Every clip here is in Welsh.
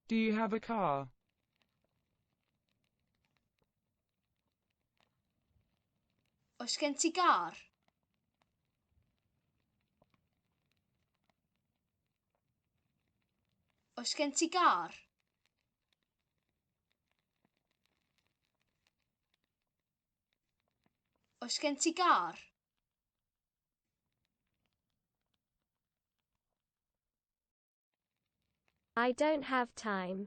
Do you have a car? Oes gen ti gar? Oes gen ti gar? Oes gen ti gar? I don't have time.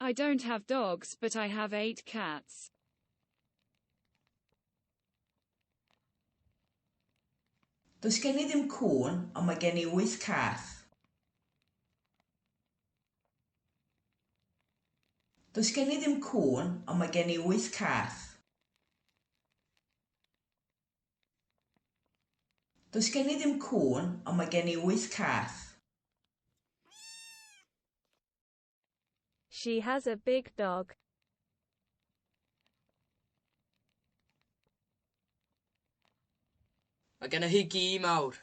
I don't have dogs, but I have eight cats. Does gen i ddim cŵn, ond mae gen i wyth cath. Does gen i ddim cŵn, ond mae gen i wyth cath. Does gen i ddim cŵn, ond mae gen i wyth cath. She has a big dog. Mae genna hi gi mawr.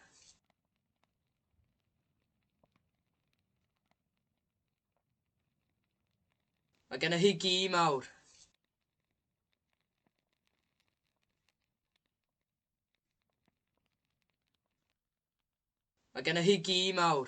Mae genna hi gi mawr. Mae gennych chi gi mawr.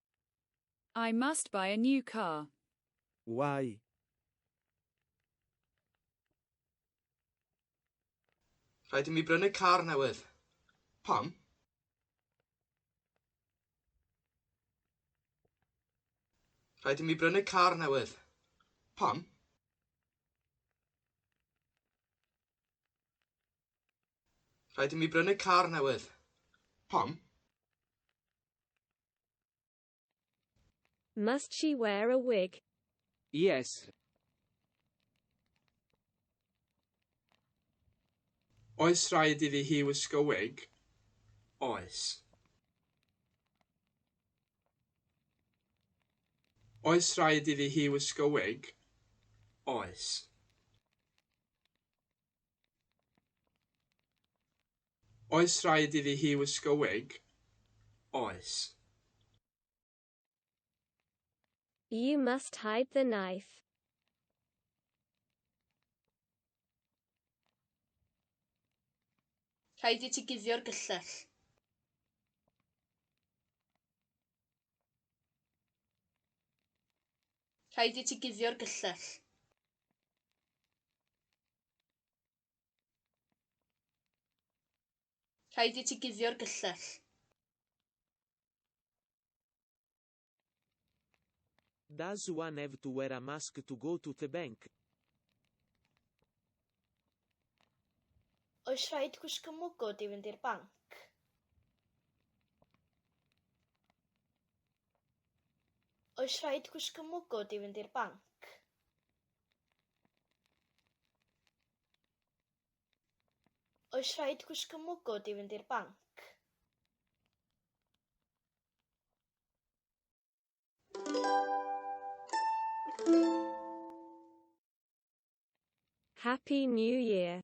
I must buy a new car. Why? Rhaid i mi brynu car newydd. Pam? Rhaid i mi brynu car newydd. Pam? Rhaid i mi brynu car newydd. Pam? Must she wear a wig? Yes. Oes rhaid iddi hi wisgo wig? Oes. Oes rhaid iddi hi wisgo wig? Oes. Oes rhaid iddi hi wisgo wig? Oes. You must hide the knife. Rhaid i ti guddio'r gyllell. Rhaid i ti guddio'r gyllell. Rhaid i ti guddio'r gyllell. Does one have to wear a mask to go to the bank? Oes rhaid gwisgo mwgwd i fynd i'r banc? Oes rhaid gwisgo mwgwd i fynd i'r banc? Oes rhaid gwisgo mwgwd i fynd i'r banc? Happy New Year!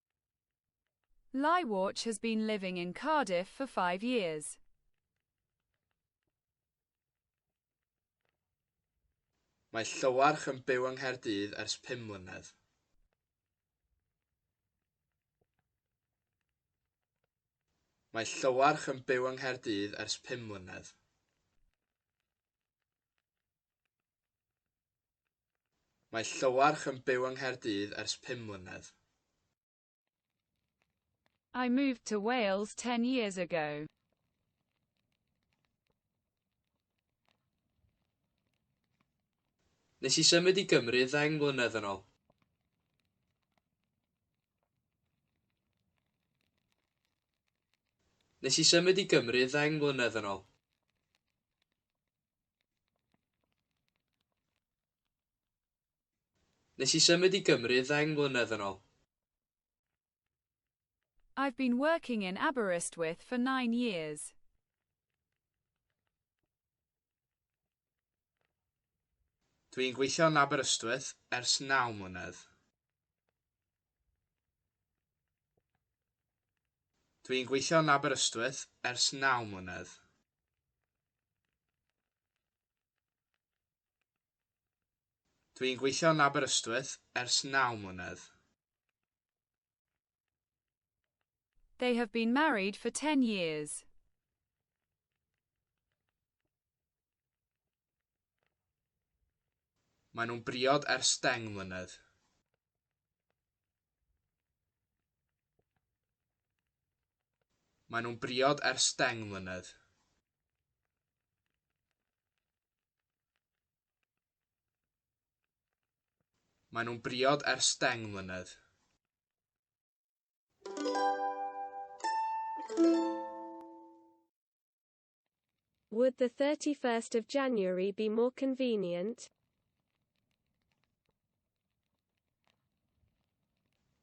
Lywatch has been living in Cardiff for five years. Mae Llywarch yn byw yng Nghaerdydd ers pum mlynedd. Mae Llywarch yn byw yng Nghaerdydd ers pum mlynedd. Mae Llywarch yn byw yng Nghaerdydd ers pum mlynedd. I moved to Wales ten years ago. Nes i symud i Gymru ddeng mlynedd yn ol. Nes i symud i Gymru ddeng mlynedd yn ol. Nes i symud i Gymru ddeng mlynedd yn ol. I've been working in Aberystwyth for nine years. Dw i'n gweithio yn Aberystwyth ers naw mlynedd. Dw i'n gweithio yn Aberystwyth ers naw mlynedd. Dwi'n gweithio yn Aberystwyth ers naw mlynedd. They have been married for 10 years. Maen nhw'n briod ers deng mlynedd. Maen nhw'n briod ers deng mlynedd. Maen nhw'n briod ers deng mlynedd. Would the 31st of January be more convenient?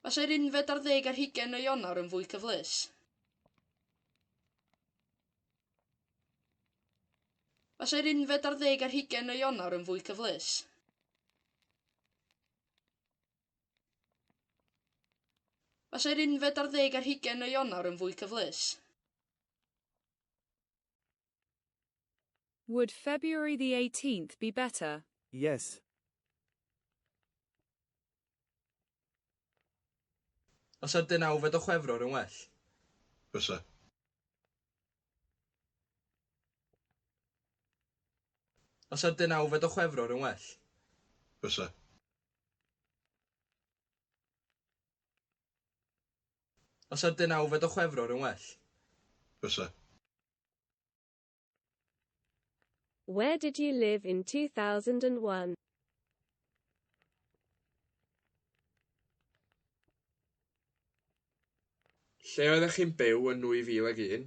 Fasai'r unfed ar ddeg ar hugain o Ionawr yn fwy cyfleus. Fasai'r unfed ar ddeg ar hugain o Ionawr yn fwy cyfleus. Fasai'r unfed ar ddeg ar hugain o Ionawr yn fwy cyfleus. Would February the 18th be better? Yes. Fysa deunawfed o Chwefror yn well? Fysa. Fysa deunawfed o Chwefror yn well? Fysa. Os ar deunawfed o Chwefror yn well? Bysa. Where did you live in 2001? Lle oeddech chi'n byw yn 2001?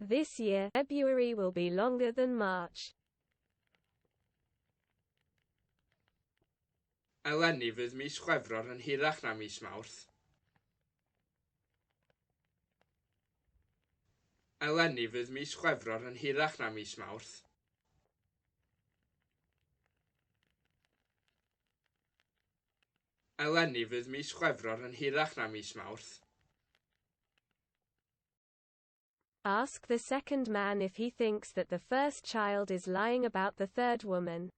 This year, February will be longer than March. Eleni fydd mis Chwefror yn hirach na mis Mawrth. Eleni fydd mis Chwefror yn hirach na mis Mawrth. Eleni fydd mis Chwefror yn hirach na mis Mawrth. Ask the second man if he thinks that the first child is lying about the third woman.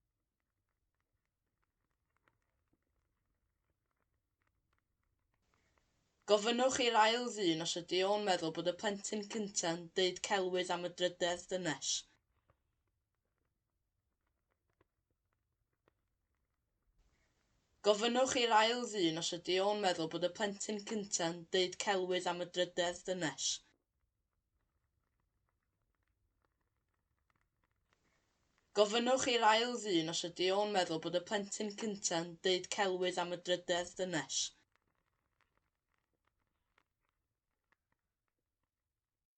Gofynnwch i'r ail ddyn os ydy o'n meddwl bod y plentyn cynta'n deud celwydd am y drydedd dynes. Gofynnwch i'r ail ddyn os ydy o'n meddwl bod y plentyn cynta'n deud celwydd am y drydedd dynes. Gofynnwch i'r ail ddyn os ydy o'n meddwl bod y plentyn cynta'n deud celwydd am y drydedd dynes.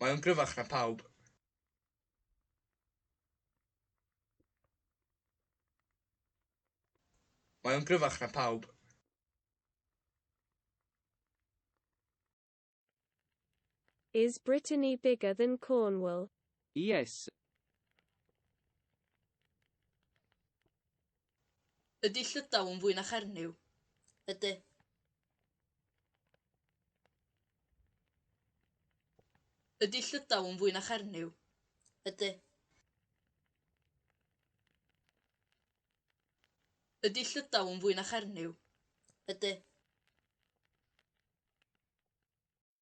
Mae o'n gryfach na pawb. Mae o'n gryfach na pawb. Is Brittany bigger than Cornwall? Yes. Ydy Llydaw yn fwy na Chernyw? Ydy. Ydy Llydaw yn fwy na Chernyw? Ydy. Ydy Llydaw yn fwy na Chernyw? Ydy.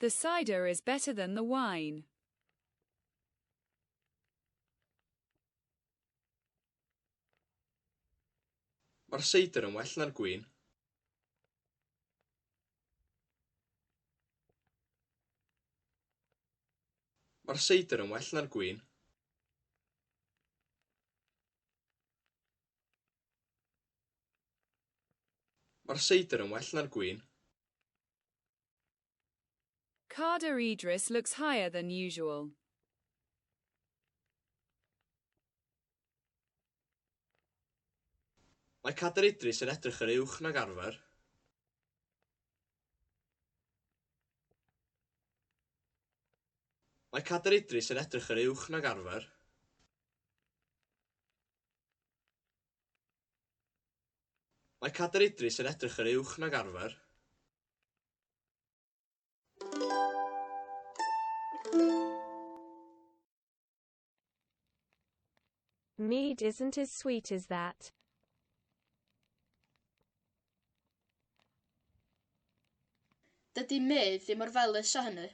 The cider is better than the wine. Mae'r seidr yn well na'r gwin. Mae'r seidr yn well na'r gwin. Mae'r seidr yn well na'r gwin. Carder Idris looks higher than usual. Mae Carder Idris yn edrych yn uwch nag arfer. Mae Carder Idris yn edrych yn uwch nag arfer. Mae Cadair Idris yn edrych yn uwch nag arfer. Mead isn't as sweet as that. Dydy Mead ddim mor felys â hynny.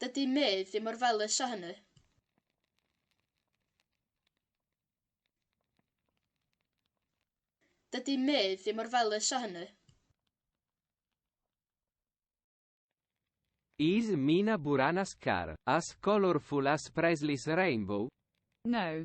Dydy Mê ddim mor felys â hynny. Dydy Mê ddim mor felys â hynny. Is Mina Buranas car, as colorful as Presley's rainbow? No.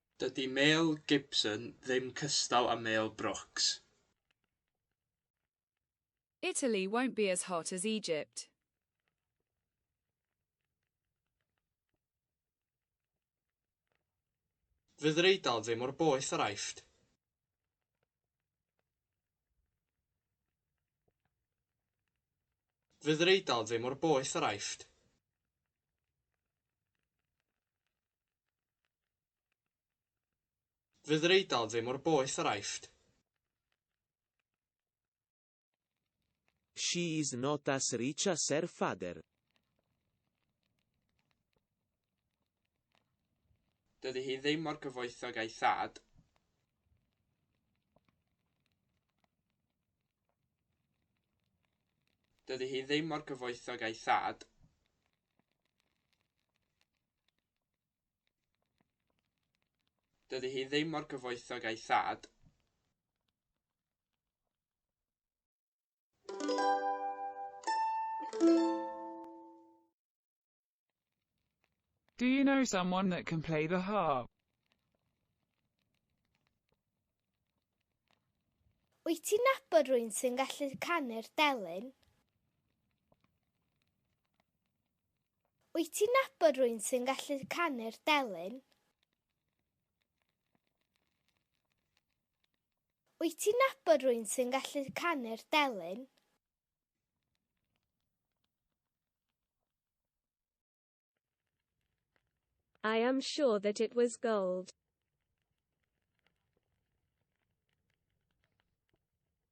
Dydy Mel Gibson ddim cystal â Mel Brooks. Italy won't be as hot as Egypt. Fydd yr Eidal ddim mor boeth â'r Aifft. Fydd yr Eidal ddim mor boeth â'r Aifft. Fydd yr Eidal ddim mor boeth â'r Aifft. She is not as rich as her father. Dydy hi ddim mor gyfoethog a'i thad. Dydy hi ddim mor gyfoethog a'i thad. Dydy hi ddim mor gyfoethog a'i thad. Do you know someone that can play the harp? Wyt ti'n nabod rwy'n sy'n gallu canu'r delyn? Wyt ti'n nabod rwy'n sy'n gallu canu'r delyn? Wyt ti'n nabod rwy'n sy'n gallu canu'r delyn? I am sure that it was gold.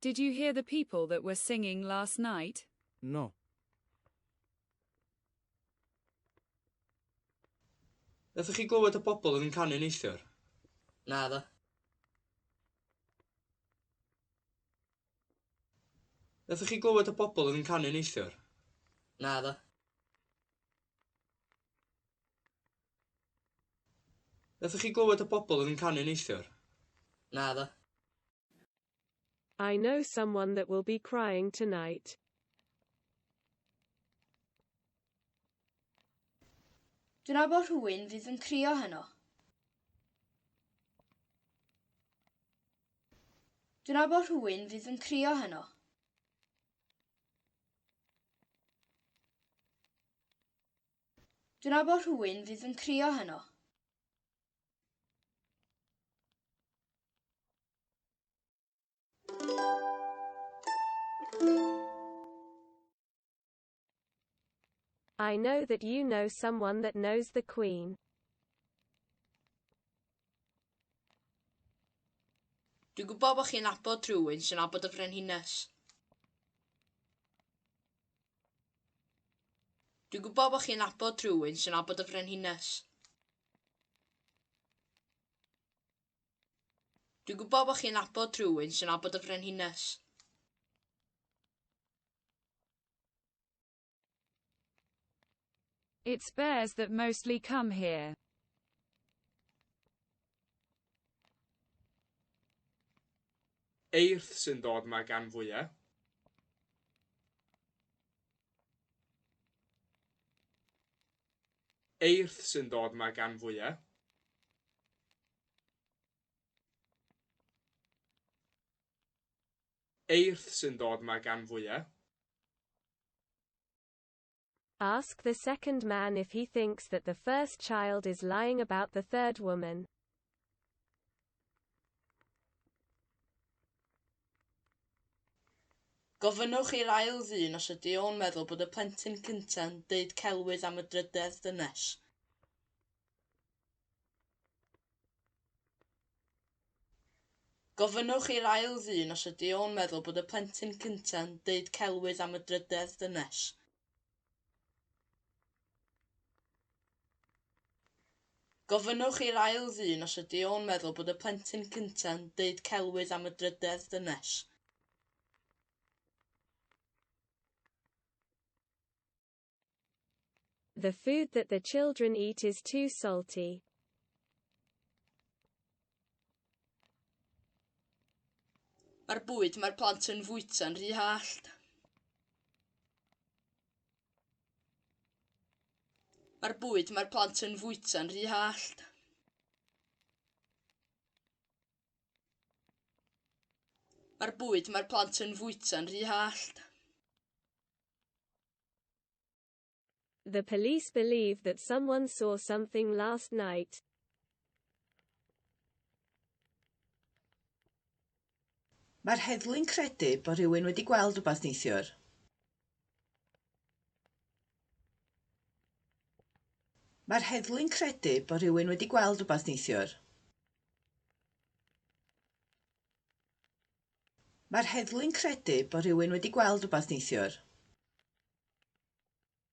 Did you hear the people that were singing last night? No. Nathoch chi glywed y pobl yn canu neithiwr? Na ddo. Nathoch chi glywed y pobl yn canu neithiwr? Na ddo. Nathoch chi glywed y bobl yn canu neithiwr? Naddo. I know someone that will be crying tonight. Dwi'n nabod rhywun fydd yn crio heno. Dwi'n nabod rhywun fydd yn crio heno. Dyna bo rhywun fydd yn crio heno. I know that you know someone that knows the Queen. Dwi'n gwybod bod chi'n abod rhywun sy'n abod y Frenhines. Dwi'n gwybod bod chi'n abod rhywun sy'n abod y frenhines. Dwi'n gwybod bod chi'n abod rhywun sy'n abod y frenhines. It's bears that mostly come here. Eirth sy'n dod yma gan fwyau. Eirth sy'n dod yma gan fwyau. Eirth sy'n dod yma gan fwyau. Ask the second man if he thinks that the first child is lying about the third woman. Gofynnwch i'r ail ddyn os ydy o'n meddwl bod y plentyn cynta'n deud celwydd am y drydedd dynes. Gofynnwch i'r ail ddyn os ydy o'n meddwl bod y plentyn cynta'n deud celwydd am y drydedd dynes. Gofynnwch i'r ail ddyn os ydy o'n meddwl bod y plentyn cynta'n deud celwydd am y drydedd dynes. The food that the children eat is too salty. Mae'r bwyd mae'r plant yn fwyta'n rhy hallt. Mae'r bwyd mae'r plant yn fwyta'n rhy hallt. Mae'r bwyd mae'r plant yn fwyta'n rhy hallt. The police believe that someone saw something last night. Mae'r heddlu'n credu bod rhywun wedi gweld rhywbeth neithiwr. Mae'r heddlu'n credu bod rhywun wedi gweld rhywbeth neithiwr. Mae'r heddlu'n credu bod rhywun wedi gweld rhywbeth neithiwr.